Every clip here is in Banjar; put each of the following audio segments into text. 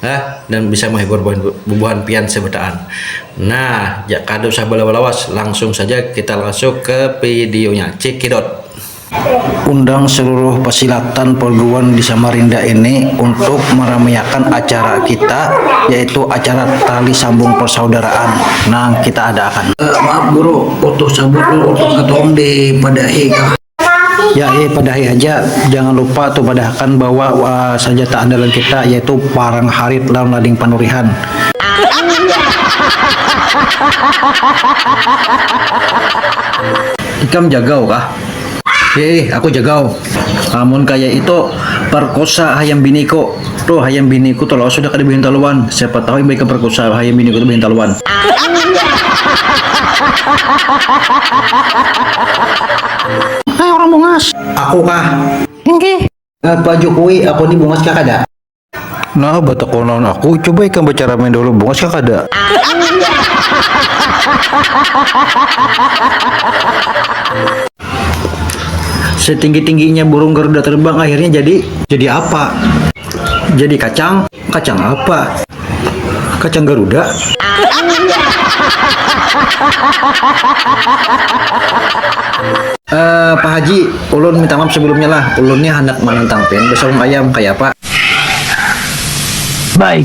Hah, dan bisa menghibur bubuhan pian sebetaan. Nah, jak kada usah balawas-lawas, langsung saja kita masuk ke videonya. Cekidot! Undang seluruh pesilatan perguruan di Samarinda ini untuk meramiakan acara kita, yaitu acara Tali Sambung Persaudaraan nang kita ada akan. Uh, maaf guru, utuh cabut dulu, utuh katong dipadahi kah? Ya eh padahi haja, jangan lupa tu padahakan bawa sanjata andalan kita yaitu parang harit lawan lading panurihan. Ikam jagau kah? Ya eh aku jagau. Amun kaya itu perkosa hayam biniku. Tuh hayam bini ku tolol sudah kada bahintaluan, siapa tahu imbah ikam perkusa hayam bini ku tu bahintaluan. Hei orang bungas. Aku kah? Inggih. Eh Pak Jukui, aku ni bungas kah kada? Nah batakun lawan aku, coba ikam bacaramai dahulu bungas kah kada? Setinggi-tingginya burung garuda terbang akhirnya jadi jadi apa? Jadi kacang. Kacang apa? Kacang garuda. Eh, Pak Haji, ulun minta maaf sebelumnya lah. Ulun nih handak manantang pian besaung ayam, kaya apa? Baik.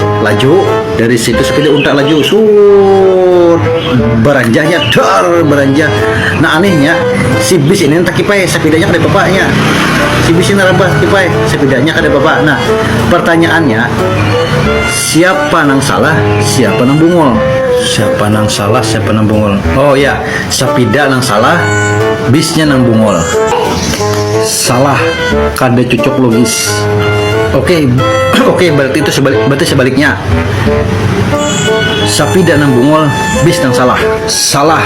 laju dari situ sepeda untak laju sur beranjahnya ter beranjah nah anehnya si bis ini entah kipai sepedanya kada bapaknya si bis ini rabah kipai sepedanya kada bapak nah pertanyaannya siapa nang salah siapa nang bungul siapa nang salah siapa nang bungul oh ya sepeda nang salah bisnya nang bungul salah kada cucuk logis. Oke, okay. oke okay, berarti itu sebalik, berarti sebaliknya. Sapi dan nang bungul, bis nang salah. Salah,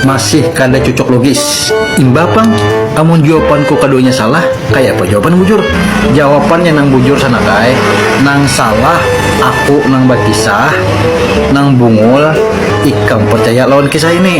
masih kada cocok logis. Imbapang, amun jawabanku keduanya salah, kayak apa jawaban bujur? Jawabannya nang bujur sana kai, nang salah, aku nang berkisah, nang bungul, ikam percaya lawan kisah ini.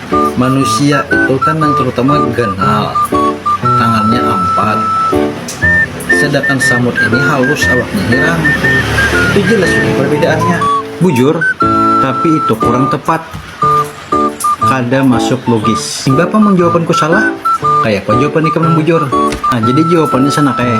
manusia itu kan yang terutama ganal tangannya empat sedangkan samud ini halus awaknya hirang itu jelas sudah perbedaannya bujur tapi itu kurang tepat kada masuk logis imbah apa mun jawabanku salah kayapa jawaban ikam nang bujur nah jadi jawabannya sana kaya.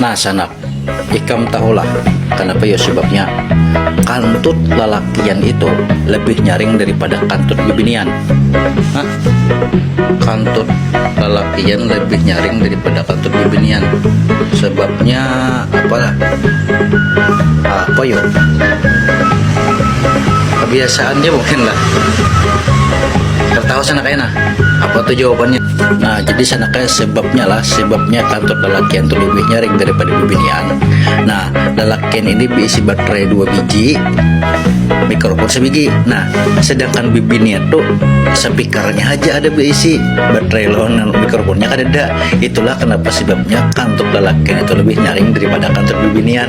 Nah sanak, ikam tahulah kanapa yo sebabnya kantut lalakian itu lebih nyaring daripada kantut bibinian? Hah? Kantut lalakian lebih nyaring daripada kantut bibinian. Sebabnya apalah? Apa yo? Kebiasaan dia mungkin lah. Tertawa sanak ayana. Apa tuh jawabannya? Nah, jadi sanakaya sebabnya lah, sebabnya kantor lalakian tu lebih nyaring daripada bibinian. Nah, lalakian ini diisi baterai dua biji, mikrofon sebiji. Nah, sedangkan bibinian tu speakernya aja ada diisi, baterai lawan mikrofonnya kada ada. Itulah kenapa sebabnya kantor lalakian itu lebih nyaring daripada kantor bibinian.